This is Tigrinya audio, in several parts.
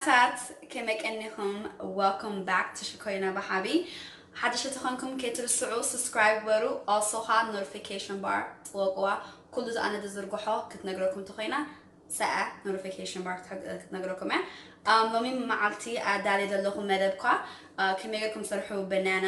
ታት ከመይ ቀኒኩም Welcome back to ሽኮሪና ብሓቢ ሓደሽቲ ተኾንኩም ከይትርስዑ subscribe ግበሩ also ኸዓ notification bar ጥወቅዋ ኩሉ እዚ ኣነ ዝዝርግሖ ክትነግረኩም ተኾይና ሰዐ notification bar ክትነግረኩም እያ ኣም ሎሚ መዓልቲ ኣዳልየ ዘለኹ መደብ ኳ ከመይ ጌርኩም ትሰርሑ በናና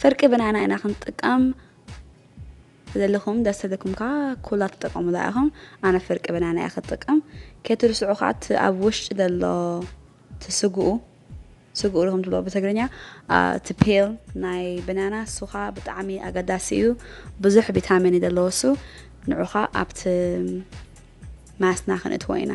ፍርቂ ብናና ኢና ክንጥቀም ዘለኹም ደስ ዘለኩም ከዓ ኩላ ትጠቀሙላ ኢኹም ኣነ ፍርቂ ብናና እያ ክጥቀም ከይትርስዑ ከዓ እቲ ኣብ ውሽጢ ዘሎ እቲ ስግኡ ስግኡ ኢኹም ትብሎ ብትግርኛ እቲ ፔል ናይ ብናና እሱ ከዓ ብጣዕሚ ኣገዳሲ እዩ ብዙሕ ቪታሚን እዩ ዘለዎ እሱ ንዑ ከዓ ኣብቲ ማስና ክንእትዎ ኢና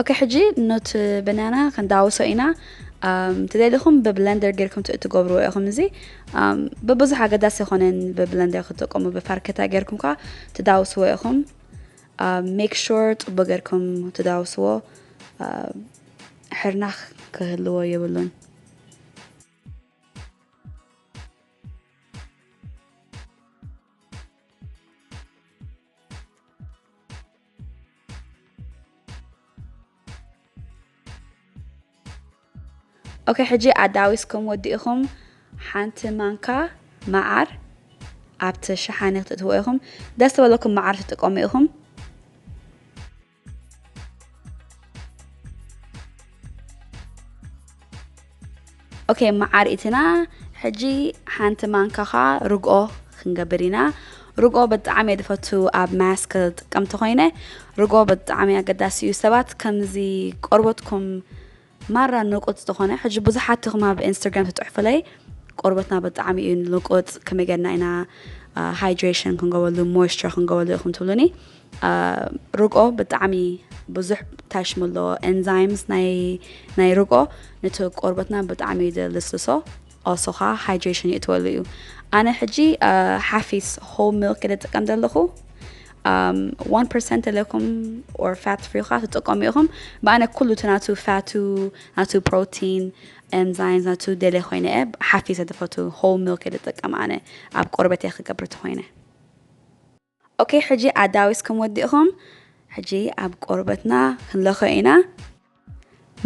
ኦኬ ሕጂ ኖት በናና ክንዳውሶ ኢና ትደልኹም ብብለንደር ጌርኩም ትገብርዎ ኢኹም እዚ ብብዙሕ ኣገዳሲ ይኮነን ብብለንደር ክትጥቀሙ ብፋርከታ ጌርኩም ከዓ ትዳውስዎ ኢኹም ሜክ ሹር ፅቡቅ ጌርኩም ትዳውስዎ ሕርናኽ ክህልዎ የብሉን ኦኬ ሕጂ ኣዳዊስኩም ወዲእኹም ሓንቲ ማንካ መዓር ኣብቲ ሸሓኒ ክትእትዎ ኢኹም ደስ ተበለኩም መዓር ትጥቀሙ ኢኹም ኦኬ መዓርኢትና ሕጂ ሓንቲ ማንካኻ ርግኦ ክንገብር ኢና ርግኦ ብጣዕሚ እየ ዝፈቱ ኣብ ማስክ ጥቀምቲ ኮይነ ርግኦ ብጣዕሚ ኣገዳሲ እዩ ሰባት ከምዚ ቆርበትኩም ማራ ንቁጽ ዝኮነ ሕጂ ብዙሓት ኢኩም ኣብ ኤንስተርግራም ትጽሕፉለይ ቆርበትና ብጣዕሚ እዩ ንቁጽ ከመይ ገርና ኢና ሃይድሬሽን ክንገብረሉ ሞይስቸር ክንገብረሉ ኢኩም ትብሉኒ ርግኦ ብጣዕሚ ብዙሕ ታሽሙ ኣለዎ ኤንዛይምስ ናይ ርግኦ ነቲ ቆርበትና ብጣዕሚ እዩ ዘልስልሶ also ከኣ hydration ይእትወሉ እዩ ኣነ ሕጂ ሓፊስ whole milk እየ ዝጥቀም ዘለኹ ዋን ፐርሰንት ለኩም ኦር ፋት ፍሪ ካ ትጥቀሙ ኢኹም ብኣነ ኩሉ እቲ ናቱ ፋቱ ናቱ ፕሮቲን ኤንዛይምስ ናቱ ደለ ኮይነ እየ ሓፊሰ ዝፈቱ ሆል ሚልክ እየ ዝጥቀም ኣነ ኣብ ቆርበት እየ ክገብር ተኮይነ ኦኬ ሕጂ ኣዳዊስኩም ወዲእኹም ሕጂ ኣብ ቆርበትና ክንለኾ ኢና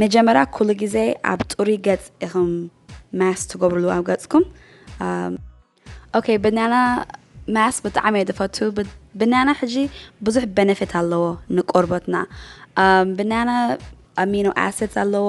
መጀመርያ ኩሉ ግዜ ኣብ ጥሩይ ገጽ ኢኹም ማስ ትገብርሉ ኣብ ገጽኩም ኦኬ ብናና ማስ ብጣዕሚ እየ ዝፈቱ ብናና ሕጂ ብዙሕ በነፊት ኣለዎ ንቆርበትና ብናና ኣሚኖ ኣሲድስ ኣለዎ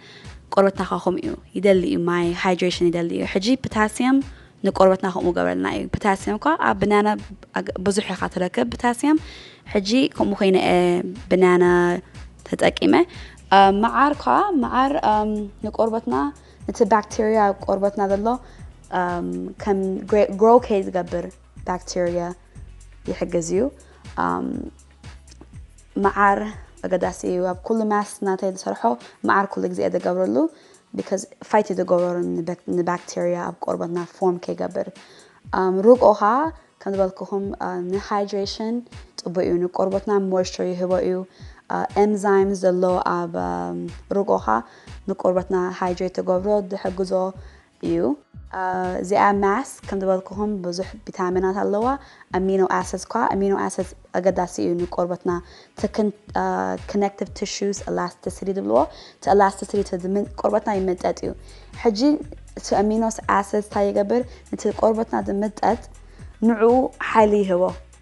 ቆርበትና ከ ከምኡ እዩ ይደሊ እዩ ማይ ሃይድሬሽን ይደሊ እዩ ሕጂ ፕታስየም ንቆርበትና ከምኡ ገበረልና እዩ ፕታስየም እኳ ኣብ ብናና ብዙሕ ኢኻ ትረክብ ፕታስየም ሕጂ ከምኡ ኮይነ ብናና ተጠቂመ መዓር ኳ መዓር ንቆርበትና እቲ ባክቴርያ ኣብ ቆርበትና ዘሎ ከም ግሮ ከይ ዝገብር ባክቴርያ ይሕግዝ እዩ መዓር ኣገዳሲ እዩ ኣብ ኩሉ ማስ ናተይ ዝሰርሖ መዓር ኩሉ ግዜ እየ ዝገብረሉ because fight እዩ ዝገብሮ ን bacteria ኣብ ቆርበትና form ከይገብር um ርግኦ ከኣ ከም ዝበልኩኹም ን hydration ጽቡቅ እዩ ን ቆርበትና moisture ይህቦ እዩ ኤንዛይም ዘሎ ኣብ ርግኦ ከኣ ን ቆርበትና hydrate ክገብሮ ዝሕግዞ እዩ። እዚኣ ማስ ከም ዝበልኩኹም ብዙሕ ቢታሚናት ኣለዋ፣ ኣሚኖ ኣሰድስ ኳ፣ ኣሚኖ ኣሰድስ ኣገዳሲ እዩ ንቆርበትና ትክን ክነክቲቭ ቲሹስ ኣላስቲሲቲ ዝብልዎ እቲ ኣላስቲሲቲ እቲ ቆርበትና ይምጠጥ እዩ ሕጂ እቲ ኣሚኖስ ኣሰድስ እንታይ ይገብር ነቲ ቆርበትና ዝምጠጥ ንዕኡ ሓይሊ ይህቦ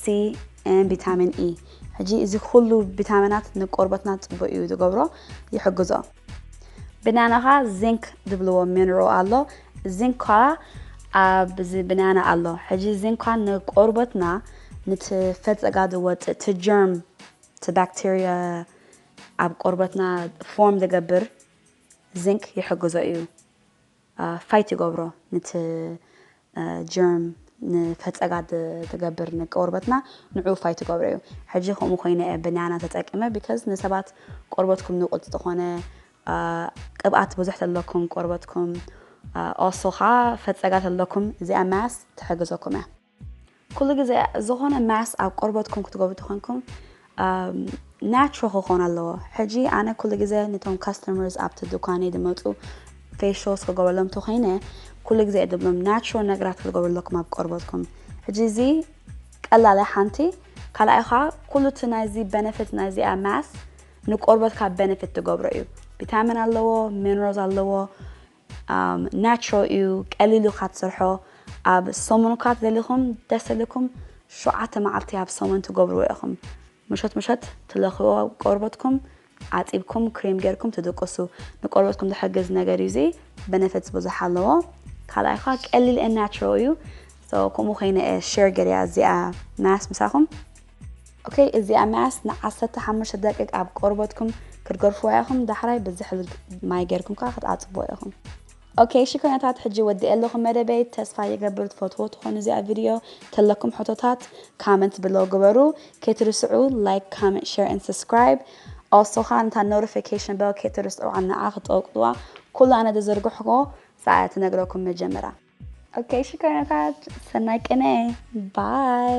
C and Vitamin E ሕጂ እዚ ኩሉ ቪታሚናት ንቆርበትና ጽቡቅ እዩ ዝገብሮ ይሕግዞ። ብናና ከኣ Zinc ዝብልዎ ሚነራል ኣሎ Zinc ከኣ ኣብዚ ብናና ኣሎ ሕጂ Zinc ከኣ ንቆርበትና ንቲ ፈጸጋ ዝወጽእ እቲ ጀርም እቲ ባክተርያ ኣብ ቆርበትና ፎርም ዝገብር Zinc ይሕግዞ እዩ ፋይት ይገብሮ ንቲ ጀርም ንፈጸጋ ትገብር ንቆርበትና ንዑ ፋይት ትገብሮ እዩ ሕጂ ከምኡ ኮይነ እየ በናና ተጠቂመ ቢከዝ ንሰባት ቆርበትኩም ንቁጽ ዝኾነ ቅብኣት ብዙሕ ተለኩም ቆርበትኩም ኦሶ ከኣ ፈጸጋ ተለኩም እዚኣ ማስ ትሕግዘኩም እያ ኩሉ ግዜ ዝኾነ ማስ ኣብ ቆርበትኩም ክትገብሩ ተኾንኩም ናቹራል ክኾን ኣለዎ ሕጂ ኣነ ኩሉ ግዜ ነቶም ካስተመርስ ኣብቲ ዱካነይ ድመፁ ፌሾስ ክገብረሎም ተኾይነ ኩሉ ግዜ ድብሎም ናቹራል ነገራት ክትገብሩ ኣለኩም ኣብ ቆርበትኩም ሕጂ እዚ ቀላለ ሓንቲ ካልኣይ ኸዓ ኩሉ እቲ ናይዚ በነፊት ናይዚኣ ማስ ንቆርበትካ በነፊት ትገብሮ እዩ ቪታሚን ኣለዎ ሚነራልስ ኣለዎ ናትሮ እዩ ቀሊሉ እካ ትስርሖ ኣብ ሰሙን እካ ተደሊኩም ደስ እልኩም ሸውዓተ መዓልቲ ኣብ ሰሙን ትገብርዎ ኢኩም ምሸት ምሸት ትለክዎ ቆርበትኩም ኣጢብኩም ክሬም ገርኩም ትድቅሱ ንቆርበትኩም ዝሕግዝ ነገር እዩ እዚ በነፈትስ ብዙሕ ኣለዎ ካልኣይ እካ ቀሊል ናትሮ እዩ ከምኡ ኮይነ ሸር ገርያ እዚኣ ማስ ምሳኩም ok እዚኣ መያስ ን ዓሰርተ ሓሙሽተ ደቂቅ ኣብ ቆርበትኩም ክትገርፍዋ ኢኩም ዳሕራይ ብዝሕል ማይ ገርኩም ከኣ ክትኣጽብዎ ኢኩም። Ok እሺ ኮይነታት ሕጂ ወዲኤ ኣለኩ መደበይ ተስፋ ይገብር ትፈትዎ ትኮኑ እዚኣ ቪድዮ ተለኩም ሕቶታት ካመንት ብለው ግበሩ ከይትርስዑ ላይክ ካመንት ሸር ኣንድ ሰስክራይብ ኦሶ ከኣ ንታ ኖርፊከሽን በል ከይትርስዑ ንዓ ክትጠቅጥዋ ኩሉ ኣነ ዝዘርግሕዎ ሰኣ ትነግረኩም መጀመራ ኦኬ ሽኮሪናታት ሰናይ ቅነ ባይ